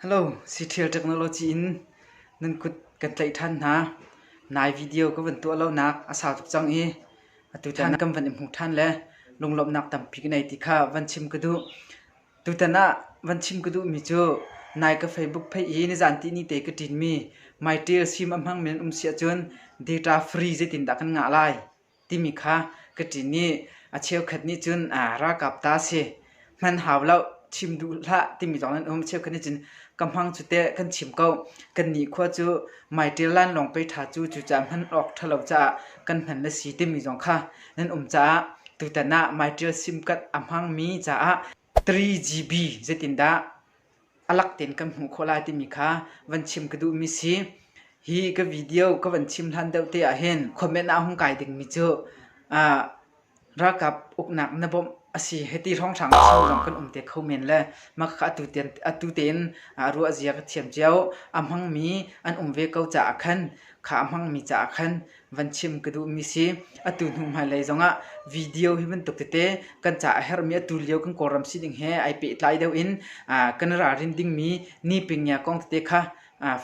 Hello, Ctrial Technology in nan kut kan tlaih ṭhan hna. Nai video ka van tuah lonak a sau tuk cang i atu tan kan van i hmuh ṭhan le lunglawmhnak tampi ka nei ti kha van chim ka duh. Tutan ah van chim ka duhmi cu nai ka Facebook page hi nizan tihni te ka ṭinmi My Tier sim a hmang men um si ahcun data free zeitindah kan ngah lai timi kha ka ṭin i a cheukhat nih cun ralkap ta si hman hau lo chim duh hlah timi zong an um. Cheukhat nih cun ka hmang cu teh kan chim ko. Kannih khua cu My Tier lainlawng pei ṭha cu cucaah hman awk ṭhalo caah kan hman le si timi zong kha Nan um caah tutan ah maiṭial simkat a hmangmi caah 3GB zeitindah a lak tein kan hmuh khawh lai timi kha van chim ka duhmi si. Hi ka video ka van chim hlan deuh te ahhin comment ah hung kai dingmi cu ah ralkap uknak na bawmh a si hiti hrawnghrang chim zong kan um te kho men le mah kha atu tein atu tein ah ruah zia ka thiam cio. A hmangmi an um ve ko caah khan kha a hmangmi caah khan van chim ka duhmi si atu hnu hmailei zongah video hi bantuk tete kan ca a herhmi atu lio kan kawlram si ding he ai pehtlai deuh in kan ralrin dingmi ni pingia kong tete kha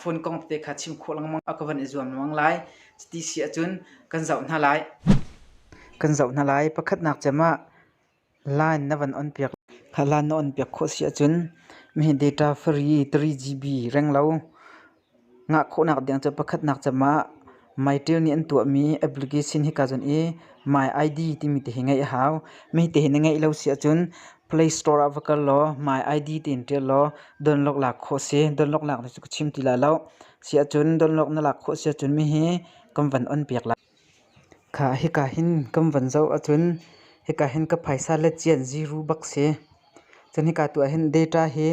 phone kong tete kha chim khawh lengmang a ka van i zuam lengmang lai cuti si ahcun kan zoh hna lai kan zoh hna lai pakhatnak cem ah Line na van on piak. Kha line na on piak khawh si ahcun mihi data free 3GB renglo ngah khawhnak ding cu pakhatnak cem ah MyTail nih an tuahmi application hika cun i My ID timi te hi ngeih a hau. Mihi te hi na ngeih lo si ahcun Play Store ah va kal law My ID tiin ṭial law download lak khawh si. Download lak cu ka chim ti lai lo. Si ahcun download na lak khawh si ahcun mihi kan van on piak lai. Khah, hika hin kan van zoh ahcun hika hin ka phaisa le cianh ziru bak si. Cun hika tuah hin data hi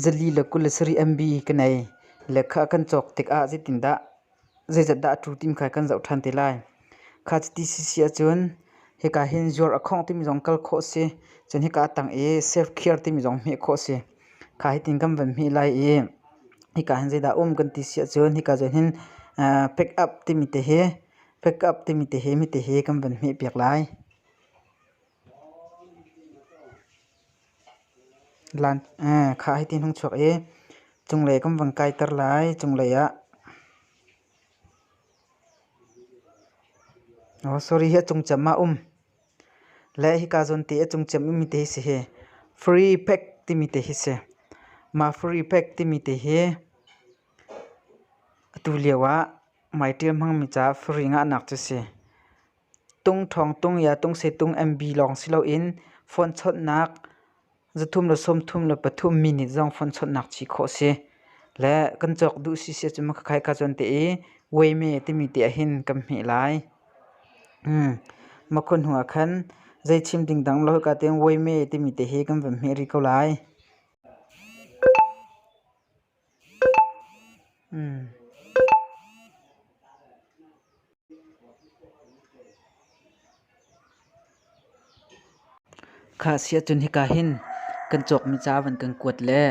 zali le kul le sarih MB ka nei. Lehkha kan cawk tikah zeitindah, zeizat dah a tu timi kha kan zoh ṭhan te lai. Kha cuti si si ahcun hika hin zuar a khawng timi zong kal khawh si. Cun hika a tang i self-care timi zong hmeh khawh si. Kha hitin kan van hmih lai i hika hin zeidah um kan ti si ahcun hika zawn hin pick-up timi te hi pick-up timi te hi mite hi kan van hmih piak lai. Kha hitin hung chuak i cunglei kan van kaiter lai cunglei ah. Sorry hi a cungcem ah um. Le hika zawn te a cung ciam mi te hi si hi free pack timi te hi si. Mah free pack timi te hi atu lio ah mai tial hmangmi caah free ngahnak cu si. Tung thawng tung ya tung sei tung MB lawng si loin phone chawnhnak Zathum le sawmthum le pathum minit zong phone chawnhnak ci khawh si. Le kan cawk duh si sia cu ma khakhaih ka cuan te i weime timi te ahhin kan hmeh lai. Makhua hnu ah khan zei chim ding dang lo hika tiang weime timi te hi kan van hmeh rih ko lai. Khah si ahcun hika hin kan cawkmi ca van kan kuat le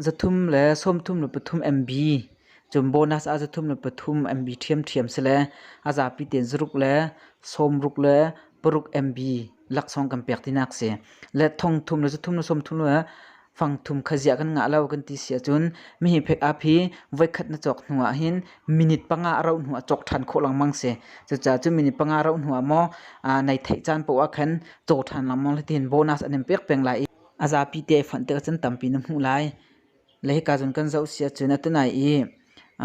zathum le sawmthum le pathum MB cun bonus ah zathum le pathum MB ṭhiamṭhiam si le a zapi tein zaruk le sawmruk le paruk MB laksawng kan pek tinak si. Le thongthum le zathum le sawmthum le fangthum khaziah kan ngah lo kan ti si ahcun mihi phek ap hi voikhat na cawk hnu ah hin minute panga a rauh hnu ah cawk ṭhan khawh lengmang si. Cucaah cu minute panga rauh hnu ah maw aa nai theih caan paoh ah khan caw ṭhan lengmang le tihin bonus an in pek peng lai i a zapi te ai fonh tikah cun tampi na hmuh lai. Le hika cun kan zoh si ahcun atunai i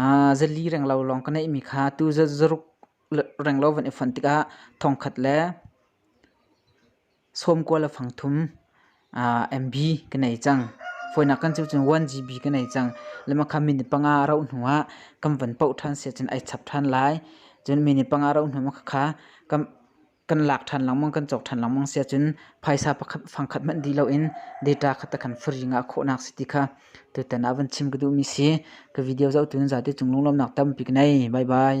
aa zali renglo lawng ka neihmi kha tu zaruk renglo van i fonh tikah thongkhat le sawm kual a fang thum MB ka nei cang. Fawinak kan cu cun 1GB ka nei cang. Lema kha minute panga a rauh hnu ah kan van poh ṭhan si cun ai chap ṭhan lai. Cun minute panga a rauh hnu ah kha kan lak ṭhan lengmang, kan cawk ṭhan lengmang si ahcun phaisa fangkhat hmanh dih loin data kha ta kan free ngah khawhnak si ti kha tutan ah van chim ka duhmi si. Ka video zohtu nan zate cung lunglawmnak tampi ka nei. Bye bye.